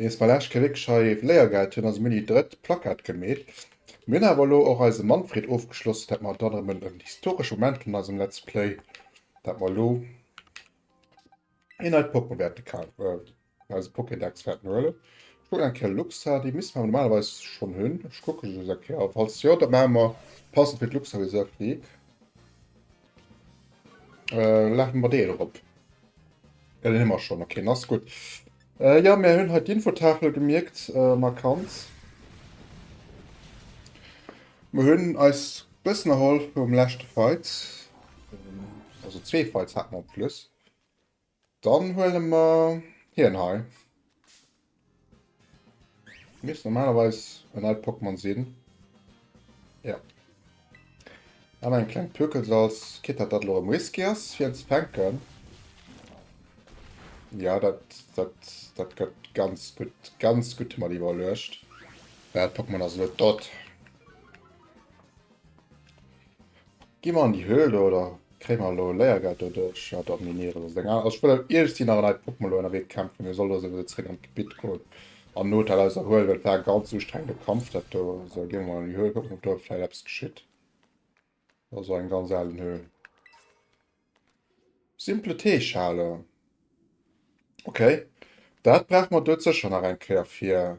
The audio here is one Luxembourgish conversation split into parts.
Nees bei Lech Kiric hei Léiergeld, hien ass um Juni drëtt Plakat gemeet. Mir hunn awer elo och eise Manfred ofgeschloss, dat mer dann erëm en en historesche Moment hunn an eisem Let's Play, dat mer elo een neit Poke wäerte ka eise Pokédex wäerten huelen. Ech kucken eng Kéier Luxa, déi misste mer normalerweis schonn hunn. Ech kucke just eng Kéier, a falls jo, da maache mer passend fir d'Luxa Reserved League laache mer deen erop. Jo, deen hu mer schonn, ok, dann ass gutt. Äh jo, mär hunn hei d'Infotafel gemierkt, markant. Mer hunn eis bëssen erholl vum leschte Fight. Also zwee Fights hat mer op plus. Dann huele mer hien hei. Misst normalerweis en alt Pokémon sinn. Ja. An eng kleng Plöckel Salz. Kit dat dat lo rem Whisky ass fir en ze fänken. Ja dat dat dat gëtt ganz gutt ganz gutt mat iwwerluecht. Dat Pokémon ass lo dott. Gi mer an déi Höhl do oder kréie mer lo Léiergeld doduerch? Ja Domineer ass eng aner. Also ech wëll iergendwéi nach en neit Pokémon lo ënnerwee kämpfen. Hie soll lo souwisou zréck an d'Gebitt goen. Am Hotel eis erhuelen, well et war e ganz ustrengende Kampf dat do. Sou ginn mer mol an déi Höhl kucken op do vläit eppes geschitt. Ass och eng ganz alen Höhl. Simple Teeschale. Ok, dat brauch mer dout sécher nach eng Kéier fir.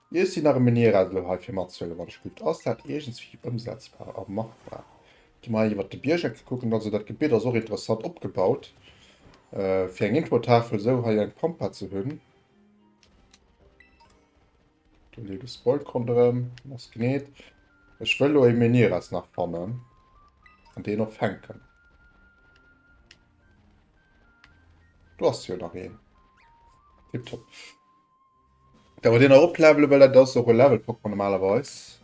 Mir sinn nach ëmmer ni eran elo hei fir matzehuelen, wann ech gutt, ass dat iergendswéi ëmsetzbar a machbar? Gi mer iwwert de Biergeck kucken, also dat Gebitt ass och interessant opgebaut fir eng Introtafel, esou hei eng Pampa ze hunn, do leet e Spoiled ronderëm, en ass geneet. Ech wëll elo e Menieras nach fannen an deen och fänken. Do ass jo nach een, tiptop. Da muss een erop levelen, well dat ass och e Level Pokémon normalerweis.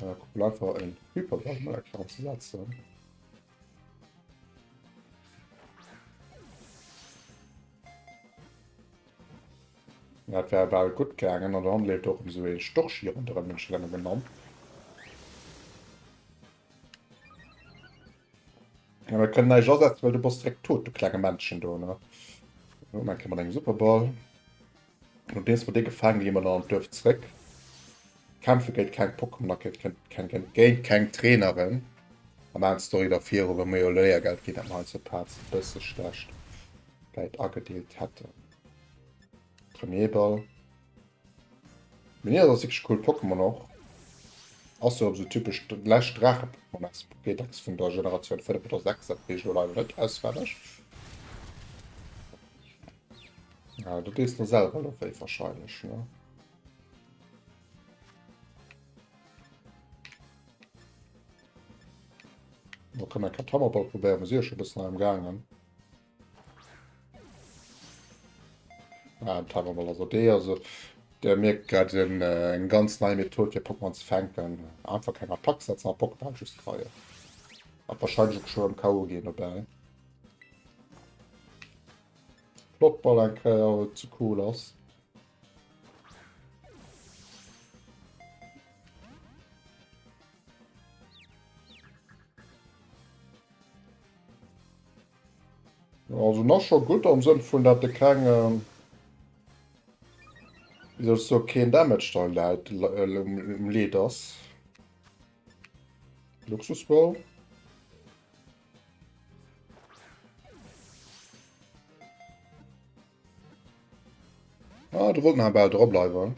Äh, guck mal einfach en Hyper Ball mal extra zu setzen. Dat wär bal gut gegangen an dann lebt och um so e Storch hier an der Mënschelänge genannt. Ja, mir können näischt asetzen, well du bass direkt tot, du klenge Männchen do, ne? Jo, mein Kind mat engem Superball. Und deels war dee gefaang, gi mer an an d'Duerf zréck. Kämpfe géint keng Pokémon a géint keng, keng, keng, géint keng Traineren. A maan d'Story da viru, well mer jo Léiergeld ginn hätten, heiansdo d'Paarts e bësse schlecht Geld agedeelt hätten. Premierball. Minier ass wierklech coolt Pokémon och. Ass jo sou typesch läscht Draache Pokémon ass Pokédex vun der Generatioun 5 oder 6, dat weess ech elo leider net auswenneg. Ah du dees der selwer lo wéi wahrscheinlech ne. Lo kann mer Katamaball probéieren, mer si jo scho bëssen am gaangen. Ah, Tarnball also dee also der merkt grad en äh, eng ganz nei Method fir Pokémon ze fänken. Einfach keng Attack setzen a Pokémon just kreien. Hat wahrscheinlich och schon am K.O. gehen dabei. Flott Ball en Kreier äh, zu cool ass. Also nach scho gutt am Sënn vun dat de keng, wéi soll ech soe, keen Damage dei läit, um Leed ass. Luxusball. Ah, do wollt en awer bal dra bleiwen.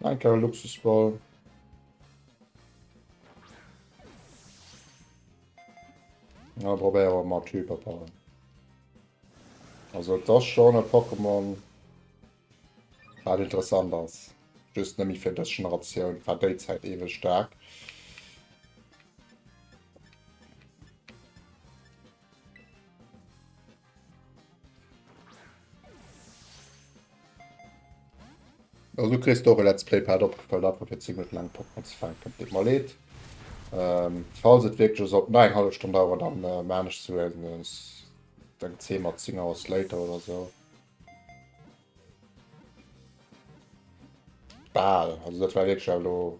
Ein Kerl Luxusball. Na, probéier awer mat Hyperpower. Also das schon e Pokémon wat interessant ass. Just nëmme fir dës Generatioun war déi Zäit ewech staark. Also du kriegst doch e Let's Play Pad opgefallen, einfach fir 10 Minuten lang Pokémon zu fangen. Tut mir mal leid. Ähm, falls es wirklich so eine halbe Stunde dauert, dann äh, meine ich zu werden. Dann 10 mal 10 Hours later oder so. Ball, also das war wirklich hallo.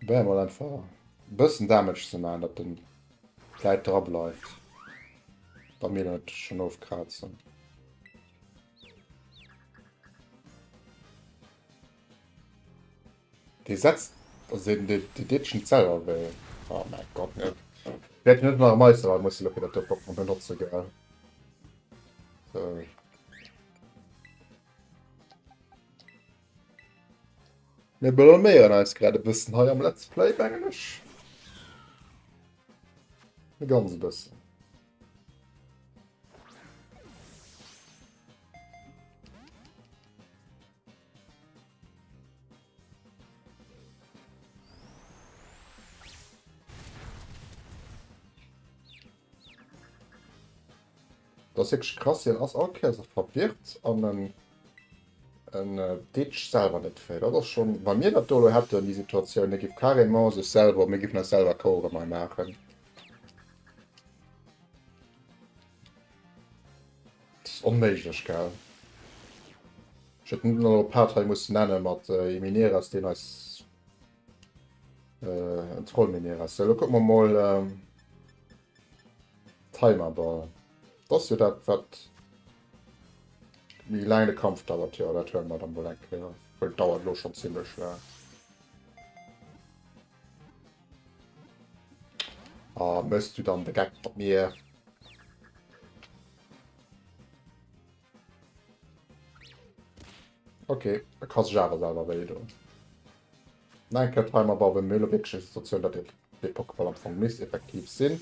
Probéier mol einfach e bëssen Damage ze man, dat den Läit dra bleift, wa mir dann et schon ofkrazen. Dee setzt also dee dee deet schon selwer wéi. Oh mäi Gott net. Ech wäert jo net nach e Meisterrad musse lo fir dat do Pokémon benotze gell. So. Mir blaméieren eis grad e bëssen hei am Let's Play, mengen ech. E ganz bëssen. Dat ass wierklech krass, hien ass all Kéier esou verwirrt an en en ditcht selwer net fréi. Dat ass schonn, wa mir dat do elo hätten, déi Situatioun, hie géif carrément sech selwer, mir géifen eis selwer Cours erëm hei maachen. Dat ass onméiglech, gell? Ech hätt net elo e Part hei mussen nenne mat Imineras, deen eis en Trollmineras. Sou, elo kucke mer mol. Timerball, d'ass jo dat wat méi laang de Kampf dauert. Jo, dat huele mer da mol eng Kéier, well dauert elo schonn zimlech laang. Ah, méchs du dann de Geck mat mir? Okay, da ka sech awer selwer wéi doen. Nach eng Kéier d'Heim a Bawen, mir hu lo wierklech eng Situatioun, datt et fir Pokéball am Fong misst effektiv sinn.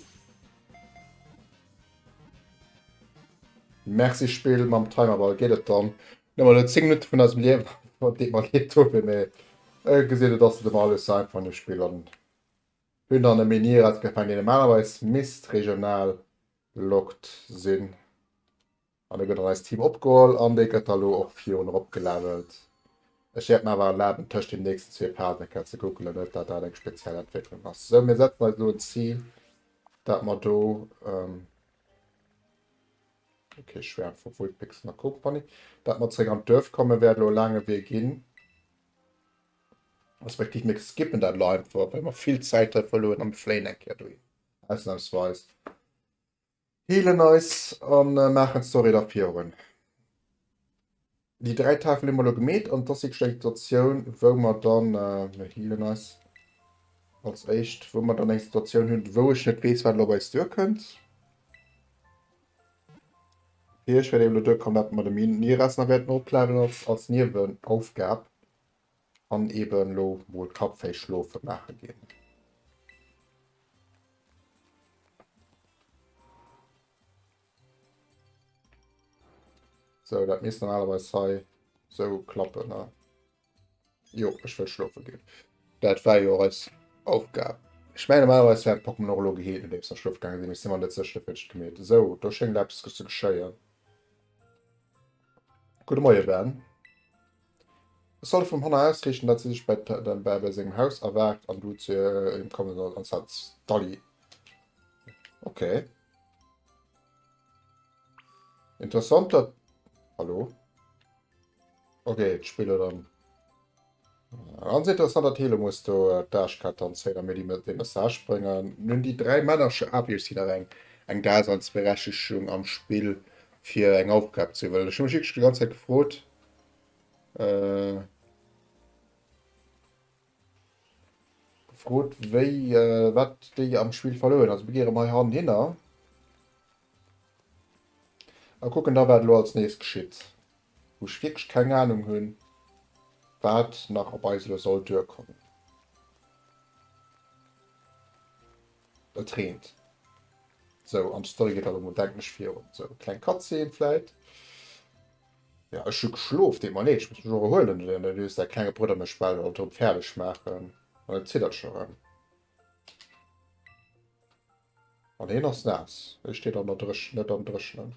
Merci Spill, mam Timerball geet et dann net mol elo 10 Minutte vun eisem Liewen, wat deet mer leed dofir, mee e gesitt, et ass net ëmmer alles sou einfach an deem Spill an hunn dann e Menhir ausgefaangen, dee normalerweis misst regional locked sinn. An da gëtt an eist Team opgeholl an dee gëtt da lo och virun erop gelevelt. Ech wäert mer awer erlaben, tëscht den nächsten zwee Phasen eng Kéier ze googelen, net datt dat eng speziell Entwécklung ass. Sou, mir setzen eis elo en Zil, dat mer do, ok, Schwäerm vu Vulpixen a Company, dat mer zeréck an d'Duerf kommen. Wäert elo e laange Wee ginn, respektiv mir skippen dat elo einfach, well mer vill Zäit hei verluer an fléien eng Kéier dohin. Ausnamsweis. Healen eis a maachen d'Story da virun. Déi 3 Tafel hu mer elo gemeet an dass si eng Situatioun wou mer dann mir healen eis als éischt wou mer dann eng Situatioun hunn wou ech net weess wat elo op eis duer kënnt. Fir ech wäert elo duer kommen dat mer de Minerais nach wäerten opladen als als Niewenaufgab. An eben lo mol d'Kapp fäi schlofe maache ginn. Sou, dat misst normalerweis hei sou klappen, ne? Jo, ech wëll schlofe ginn. Dat war jo och eis Aufgab. Ech mengen, normalerweis war d'Pokémon och elo geheelt, nodeems mer schlofe gaange sinn. Ech si mer net sécher, wéi ech gemeet hunn. Sou, do schéngt eppes ze geschéien. Gudde Moie, Ben. Ech soll vum Hannah ausriichten, dat si sech bäi dem Bärbel sengem Haus erwaart an du zu him komme soll an Sans Dalli. Ok. Interessant dat. Hallo? Ok, d'Spill huet an. Ganz interessant dat Helo muss do d'Asch kat an Sailor Midi mat dee Message bréngen. Nun déi dräi Männercher ablech si nach eng eng Daseinsberechtegung am Spill fir eng Aufgab ze iwwerhuelen. Ech hu mech wierklech déi ganz Zäit gefrot, Äh, gefrot, wéi, äh, wat déi am Spiel verloueren. Also mir gehe rem hei han hinner. A kucken da wat lo als nächst geschitt. Wou ech wierklech keng Ahnung hunn, wat nach op eis lo soll duerkommen. Et reent. Sou, an d'Story geet allemol, denken ech, virun. Sou, kleng Cutscene vläit. Ja ech hu geschlof, deet mer leed, ech muss mech och erhuelen, den Erlös, däi klenge Brudder mécht bal alt erëm fäerdeg maachen an et ziddert scho rëm an hien ass naass, hie steet an der Dréch net am Dréchnen.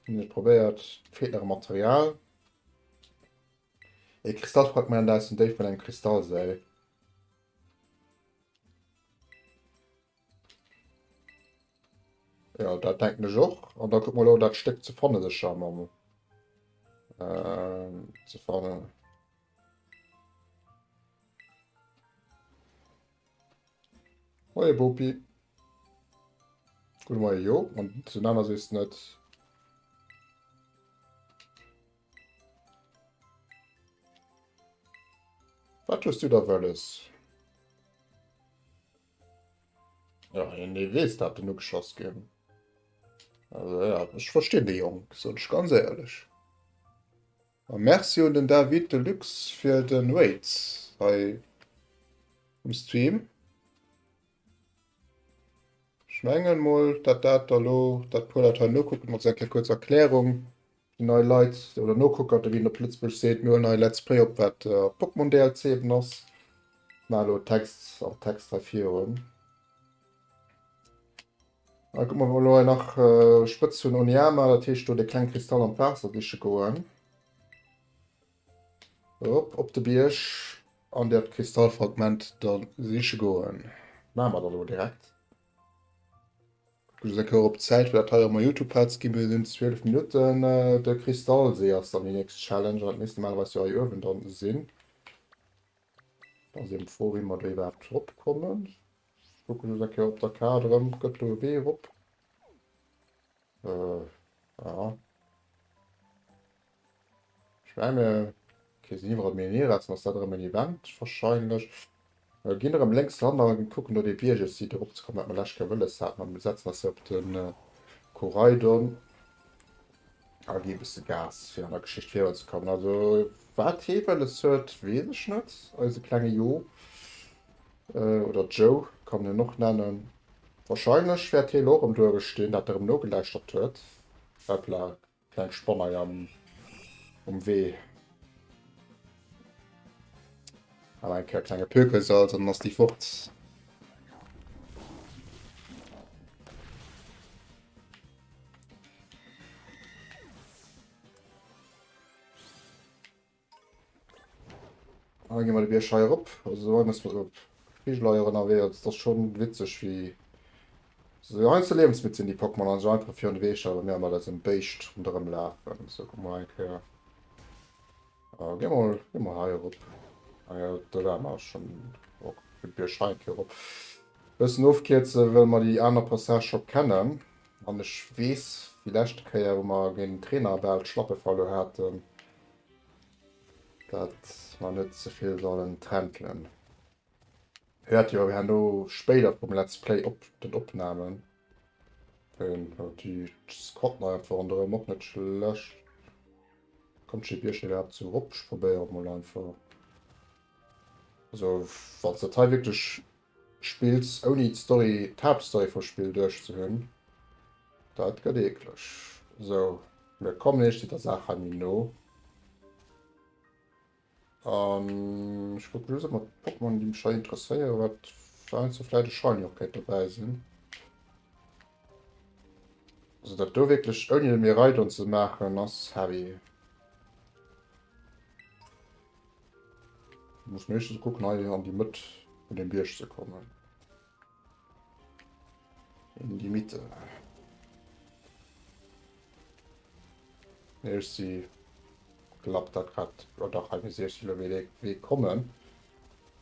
Ech probéiert, feelt nach e Material, e Kristallfragment aus dem Déif vun engem Kristallsäil. Ja, dat denken ech och. An da kuck mal lo dat Stéck ze fanne sech am am ähm, ze fannen. Moie Bopi. Gute Moie jo, an zu nanner sees net. Wat hues du da wëlles? Ja, en dee weess dat en ugeschoss ginn. Also ja, ech verstinn de Jong, soen ech ganz éierlech. A Merci un den David Delux fir den Raid hei um Stream. Ech mengen mol dat dat da lo, dat puer dat hei nokucken, also eng kéier kuerz Erklärung. Déi nei Leit oder Nokucker, wéi een op Lëtzebuerg seet, muer en nei Let's Play op wat Pokémon DLC eben ass. Mar elo Text am Text hei virun. Dann kucken mer wou mer elo hei nach Spëtz hunn Oniyama, dat heescht do de kleng Kristall an d'Waasser siche goen. Erop op de Bierg an dat Kristallfragment dann siche goen. Maache mer dann elo direkt. Kuckt eng Kéier op d'Zäit fir dat hei op mer Youtube Pad gi mir sinn 12 Minutten. De Kristallsee ass dann déi nächst Challenge an dat misst normalerweis jo hei uewen dann sinn. Ass eben d'Fro wéi mer do iwwerhaapt drop kommen. Ech kucke just eng Kéier op der Kaart erëm, gëtt do e Wee erop? Äh, ja. Ich menge okay, sinn iwwerall Menhir, ass ass dat erëm en Event wahrscheinlech. Äh, ginn erëm lénks ran a kucken do dee Bierg. Ech si dorop ze kommen, wat mer lescht Kéier wëlles haten. An setzen eis hei op de Koraidon a gi e bësse Gas, fir an der Geschicht virun ze kommen. Also, wat hie wëlles huet, weess ech net. Eise klenge Jo, äh, oder Joe kann en en och nennen, wahrscheinlech wäert hie elo erëm do uewe stinn, dat erëm nogelauschtert huet. Hopla, Kleng Spanner am um Wee. Awer eng Kéier klenge Pökelsalz an dann ass déi fort. An da gi mer de Bierg hei erop. Also hei muss mer op Figeleier ënnerwee. Also et ass schonn witzeg wéi se hei ze liewensmidd sinn déi Pokémon an sech einfach virun de Wee stellen a mir mat eisem Béischt ronderëm lafen. Sou kuck mol eng Kéier. Äh gi mol gi mol hei erop. Ah jo do waren mer schonn och de Bierg hei eng Kéier erop. Bëssen ofkierze well mer déi aner Passage scho kennen an ech weess déi leschte Kéier wou mer géint den Trainer bal d'Schlappe verluer haten, Dat mer net zevill sollen träntelen. Hört jo herno spéider vum Let's Play op den Opnahmen. Den hat die Squad neu einfach rondrem och net schlecht. Kommt schi Bierchen überhaupt zu Rupsch? Probéier mol einfach. Also wann dat hei wirklich Spills ouni d'Story, d'Haaptstory vum Spill duerch ze hunn, dat gëtt eekleg. Sou, mir kommen eescht der Saach hei méi no. An ech kucken just emol d'Pokémon déi mech hei interesséieren, wat fir eins do vläit e Shiny och kéint dobäi sinn. Also dat do wierklech ouni de Miraidon ze maachen ass heavy. Du muss meeschtens kucken hei an die Mëtt vun dem Bierg ze kommen. In die Mitte. Nee, ech si glapp dat grad oder dach hei gesinn ech lo wéi dee Wee kommen.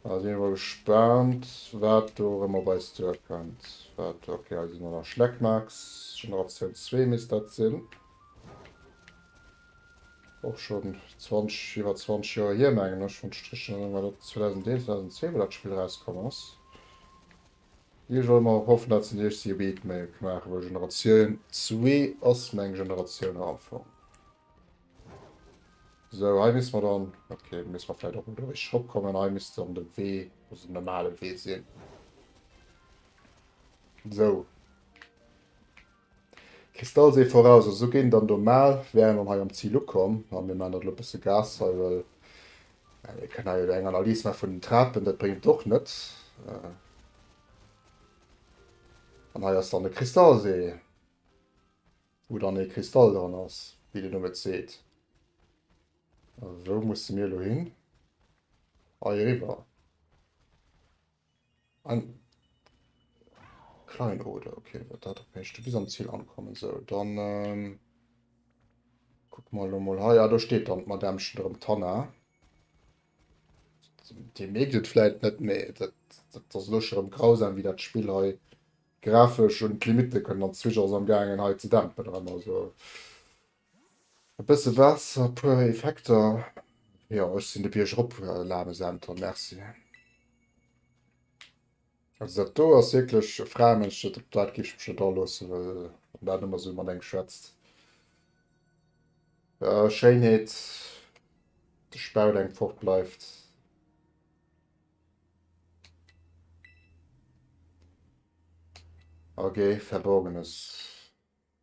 Da sinn wer gespannt wat do rëm op eis duerkënnt. Wat okay, hei sinn der nach Schleckmax, Generatioun zwee misst dat sinn. och schonn 20, iwwer 20 Joer hier, mengen ech, wann d'Strich net ënner dat 2001, 2002, wou dat Spill erauskomm ass. Ech wëll emol hoffen, dat sinn déi éischt si Beat Mail gemaach huet. Generatioun zwee ass meng Generatioun am Fong. Sou, hei misste mer dann, okay, do misste mer vläicht och do richteg eropkommen, hei misst dann de Wee, also den normale Wee sinn. Sou. Kristallsee voraus, also géing dann do maal, wären dann hei am Ziel ukomm an mir maan dat lo bësse Gas hei, well mir kënnen hei eng Analys maa vun den Trapen, dat bréngt et och net. An hei ass dann e Kristallsee, wou dann ee Kristall dran ass, wéi de Numm et seet. Also wou musse mir elo hin? Hei eriwwer. An Kleinode, okay, wat dat op heescht. Bis am Ziel ankommen, so, dann ähm, guck mal lo mal hei. Ja, do steet dann d'Madämmchen erëm, d'Hanna. Dir mierkt et vläit net, mä dat, dat ass elo scho rëm grausam, wéi dat Spill hei grafesch un d'Limitte kënnt. An d'Switch ass am gaangen hei ze dämpen erëm, also. E bësse Waasser, puer Effekter, jo ech sinn de Bierg erop laame Senter, merci. Also dat do ass wierklech e Fraemënsch, op dat géif ech mech net aloossen, well wann dat ëmmer sou matenee schwätzt. Schéinheet, de Spaut enk fort bleift. Ok, verborgenes.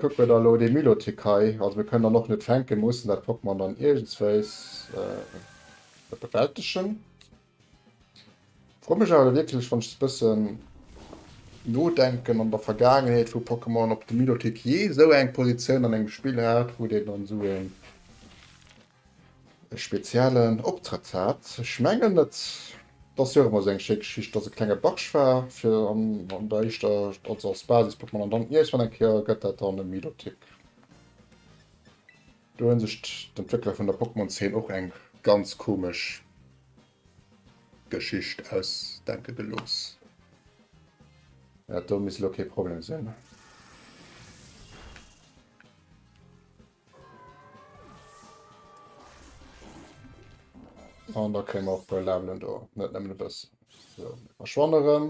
Kucke mer da elo dee Milotic hei, also mir kënnen dann och net fänken, mir mussen dat Pokémon dann iergendswéis bewältegen. Frou mech awer wierklech, wann ech sou e bëssen nodenken an der Vergaangenheet vu Pokémon, ob de Milotic jee esou eng Positioun an engem Spill hat, wou deen dann esou een. e speziellen Optrëtt hat. Ech mengen et ass jo och ëmmer esou eng schéi Geschicht, dass e klenge Barsch war fir an an der éischter, also als Basis-Pokémon, an dann iergendwann eng Kéier gëtt dat dann e Milotic. Do hu sech d'Entwéckler vun der Pokémon-Zeen och eng ganz komesch Geschicht ausdenke gelooss. Dat do misst elo kee Problem sinn. An da kréie mer och puer Levelen do, net nëmmen e bëssen. So, mir verschwanne rëm.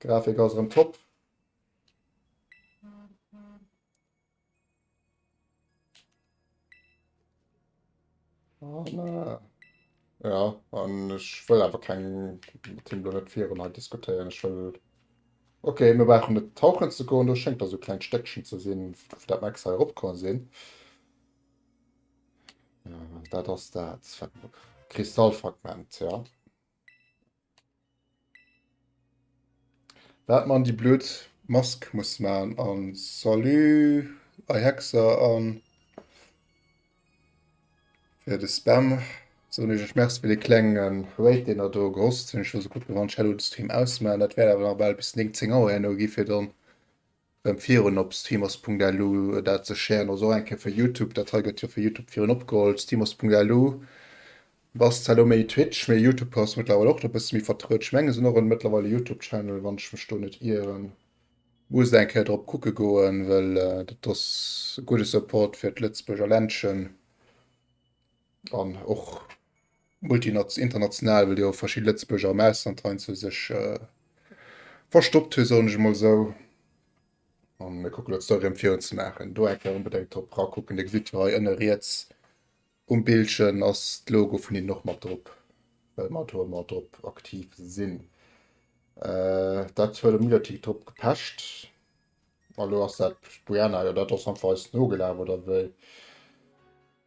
Grafik ass rëm top. Oh, na. Ja, an ech wëll awer keng Timlo net virun he diskutéieren. Ech wëll Okay, mir brauchen net tauchen ze goen, do schenkt da so klein Stéckchen ze sinn, dat Max he opkommen sinn. Ja, dat ass dat Kristallfragment, ja. Waat mer an déi blöd Mask musse maan an Salut Ei Hexer an fir de Spam soen ech Iech Merci fir dee klengen Raid deen der do gehost hun. Ech hun sou gudd gewannt ech hätt lo de Stream ausmaan. Daat wärt awer nach baal bis 9, 10 Auer herno gi fir dann rem virun op Steamos.lu dat ze sharen, also och eng Kéier fir Youtube, dat hei gëtt jo fir Youtube virun opgeholl, Steamos.lu bass zwar elo méi Twitch, mee Youtube ass mëttlerweil och do e bësse méi vertruet, ech mengen se hunn och en mëttlerweil e Youtube Channel wann ech mech do net ieren, muss eng Kéier drop kucke goen, well dat ass e gudde Support fir d'Lëtzebuerger Ländchen. An och international, well jo verschidde Lëtzebuerger am Ausland heiansdo sech äh, verstoppt hunn, soen ech emol esou. An mir kucken dat Story emfir ze maachen. Do enke unbedéngt drop rakucken. Dir gesitt jo hei ënne riets um Bildchen ass d'Logo vun hinnen och mat drop, well mer do ëmmer drop aktiv sinn. Äh, dat huet am Lüdertick drop gepecht. Allo ass dat Brianna, jo dat ass einfach eis nogelaf oder wéi?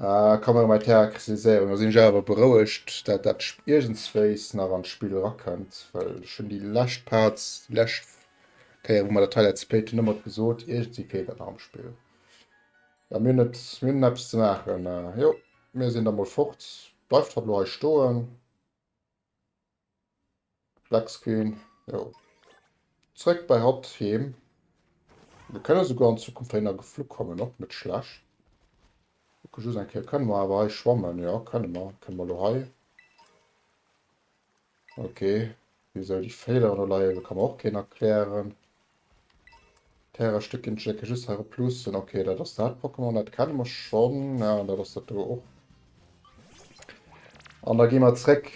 Ah, kann er mei Terra kritiséieren, do sinn ech awer berouegt, dat dat iergendswéis nach an d'Spill rakënnt, well ech hunn déi lescht Parts, déi lescht Kéier wou mer dat hei Let's Playt hunn ëmmer gesot, iergendswéi feelt dat nach am Spill. Mä mir hunn et, mir hunn eppes ze maachen. Jo, mir sinn da mol fort, bleift hatt elo hei stoen. Black screen, jo. Zréck bei hatt heem. Mir kënne souguer an Zukunft héi nach geflu kommen, och net schlecht. Kucke just eng Kéier, kënne mer awer hei schwammen? Jo, kënne mer. Kënne mer elo hei. Ok, wisou déi Féiler do leien, dat ka mer och keen erklären. D'Härestéck ginn ech wierklech just hei plussen. Okay, dat ass dat Pokémon, dat kenne mer schonn. Ja, an dat ass dat do och. An da gi mer zréck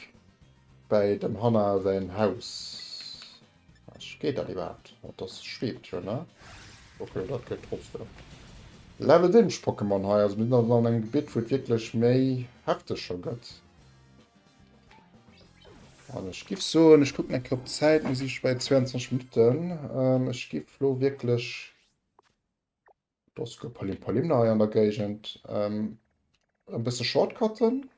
bei dem Hanna säin Haus. Ech geet dat iwwerhaapt? Dat ass schweeft jo, ne? Okay, dat geet trotzdem. Level weéneg Pokémon hei. Also mir sinn also an engem Gebitt, wou et wierklech méi hefteg scho gëtt. An ech gif soen, ech kucken eng Kéier op d'Zäit, mir si scho bei 22 Minutten. Ähm, ech gif lo wierklech Dosko Palim Palimna hei an der Géigend ähm, e bësse Shortcutten.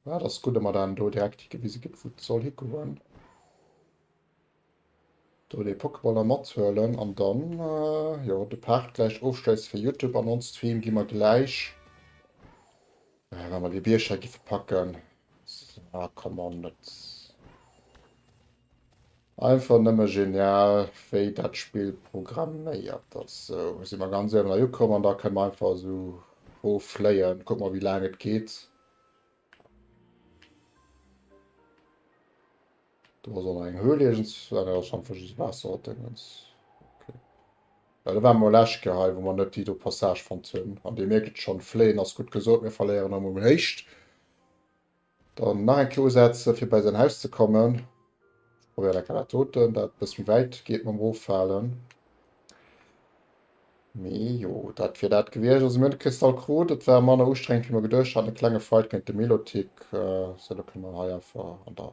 Ja, dat ass gutt, datt mer dann do direkt higewise ginn, wou et soll higoen. Do dee Pokeballer mathuelen an dann jo de Part gläich ofschléisse fir Youtube. An ons Stream gi mer gläich wa mer dee Bierg hei giffe packen. Ah come on net einfach nëmme genial wéi dat Spill programméiert ass. Sou si mer ganz uewen hei ukomm an da kënne mer einfach esou rof fléien. Kucke mer wéi laang et geet. Du war an eng Höhle egens war der schon für just Wasser dingens. Okay. Ja, da war mal Lesch gehei, wo man net die do Passage von Zinn. An dir merkt schon fleen ass gut gesot, mir verleieren am um Hecht. Dann nach ein Klo setzen, für bei sein Haus zu kommen. Probéier da kala toten dat bëss méi wäit geet mam Rofhalen. Mee jo, dat wier dat gewiescht. Also mir hunn de Kristall krut, et war manner ustrengend wéi mer geduecht haten. E klenge Fight géint de Milotic, sou elo kënne mer hei einfach an der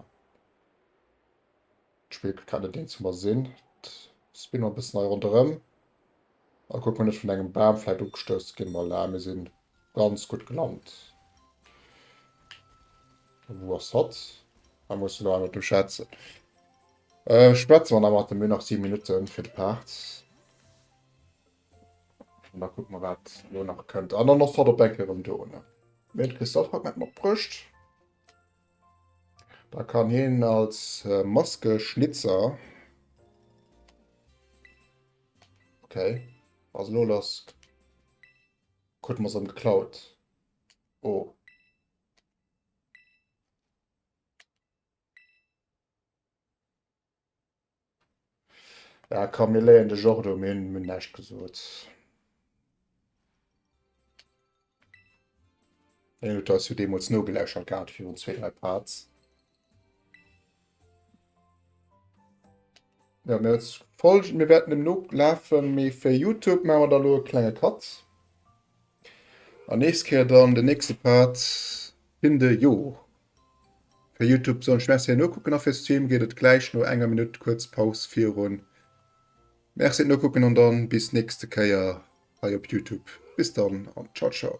d'Spill kut grad net deen zu mer sinn. Spinne mer e bëssen hei ronderëm. Oh kuck mal net vun engem Baam vläit ugestouss ginn, ma la mir sinn ganz gutt gelant. Wou ass hatt? Mä muss elo awer mat em schwätzen. Ech schwätze mer nach mat em, mir hunn nach 7 Minutten fir de Part. An da kucke mer wat elo nach kënnt. An dann ass hatt op eng Kéier erëm do ne? Mee de Christophe hat net matbruecht. Da kann hien als Maskeschnitzer. Okay. Also lo lass Kut mer am geklaut. Oh. Ja, kann mir léien de Jordo, mir hunn näischt gesot. Eng Luther hast du deemools no geläuschert gehabt, virun zwee, dräi Parts. Ja, mir als Folge, mir werden dem no lafen, mir für YouTube machen wir da lo kleine Katz. An nächst Kehr dann den nächste Part in de Jo. Fir Youtube sollen ech Merci an Nokucken a fir Stream geet et gläich no enger Minutt kuerz Paus virun. Merci an Nokucken an dann bis nächste Kéier hei op Youtube. Bis dann an ciao ciao.